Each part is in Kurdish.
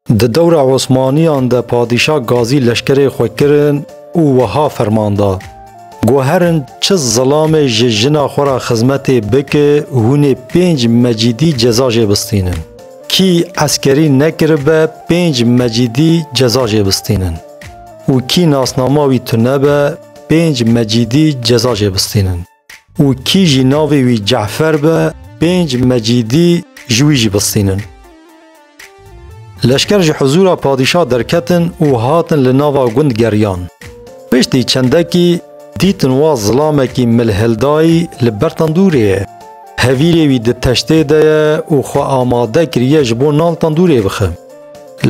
Di dewra Osmaniyan de padîşa gazî leşkerê xwe kirin û wiha ferman da, Guherin çi zilamê ji jina xwe ra xizmetê bike hûnê pênc mecîdî ceza jê bistînin. Kî eskerî nekiribe pênc mecîdî ceza jê bistînin û kî nasnama wî tunebe pênc mecîdî ceza jê bistînin. û kî jî navê wî Ce'fer be, pênc mecîdî ji wî jî bistînin. Leşker ji huzûra padîşah derketin û hatin li nava gund geriyan. Piştî çendekî dîtin wa zilamekî milhildayî li ber tendûrê ye. Hevîrê wî di teştê de ye û xwe amade kiriye ji bo nan tendûrê bixe.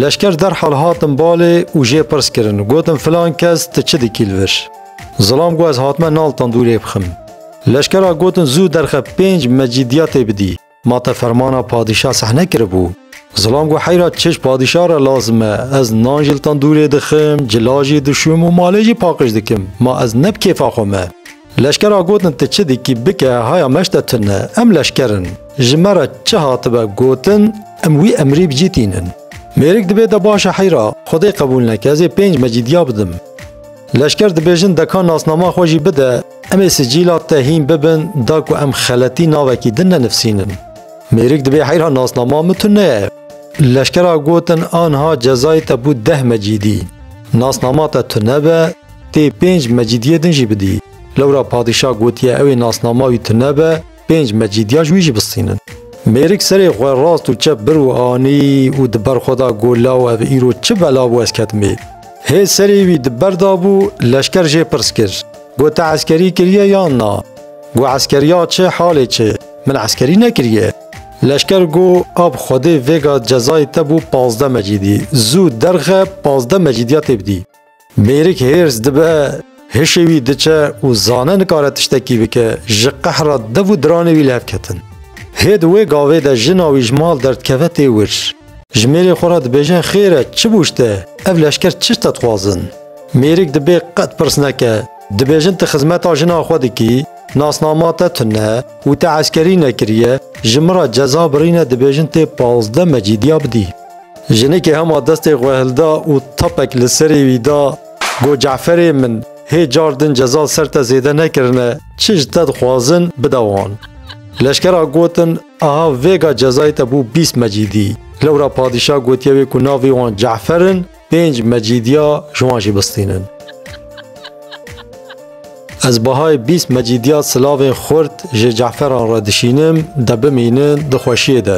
Leşker derhal hatin balê û jê pirs kirin, gotin filan kes tu çi dikî li vir? Zilam ku ez hatime nal tandûrê bixim. Leşkera gotin zû derxe pênc mecîdiya tê bidî. Ma te fermana padîşa sehne kiribû. Zilam ku heyra çiş padîşa re lazim e, ez nan jî li tandûrê dixim, cila jî dişûm û malê jî paqij dikim. Ma ez ne bi kêfa xwe me. Leşkera gotin ti çi dikî bike haya me ji te tune, em leşker in. Ji me re çi hatibe gotin em wî emrî bicîtînin. Mêrik dibe te baş e heyra, xwedê qebûl neke ez ê pênc mecîdiya bidim. Leşker dibêjin deka nasnama xwe jî bide, em ê sicîla te hîn bibin da ku em xeletî navekî din nenivsînin. Mêrik dibê heyra nasnama min tu neye. Leşkera gotin anha cezayê te bû deh mecîdî. Nasnama te tu nebe, tê pênc mecîdiyê din jî bidî. Lewra padîşah gotiye ewê nasnama wî tu nebe, Pênc mecîdiya ji wî jî bistînin. Mêrik serê xwe rast û çep bir û anî û di ber xwe da got law ev îro çi bela bû ez ketime. Hê serê wî di ber da bû leşker jê pirs kir. Got te eskerî kiriye yan na? Got eskeriya çi halê çi? Min eskerî nekiriye. Leşker got ab xwedê vêga cezayê te bû pazdeh mecîdî. Zû derxe pazdeh mecîdiya tê bidî. Mêrik hêrs dibe, hişê wî diçe û zane nikare tiştekî bike, ji qehra dev û diranê wî li hev ketin. Hê di wê gavê de jina wî ji mal derdikeve tê wir. Ji mêrê xwe re dibêje xêr e çi bû ji te, ev leşker çi ji te dixwazin? Mêrik dibê qet pirs neke, dibêjin tu xizmeta jina xwe dikî, nasnama te tune û te eskerî nekiriye, ji min re ceza birîne dibêjin tê pazdeh mecîdiya bidî. Jinikê hema destê xwe hilda û tapek li serê wî da, got, Ce'ferê min, hê car din ceza ser te zêde nekirine, çi ji te dixwazin, bide wan. Leşkera gotin, Aha vêga cezayê te bû bîst mecîdî. Lewra padîşah gotiye wê ku navê wan Ce'fer in, pênc mecîdiya ji wan jî bistînin. Ez Bahayê bîst mecîdiya silavên xurt ji ceferan re dişînim, de bimînin di xweşiyê de.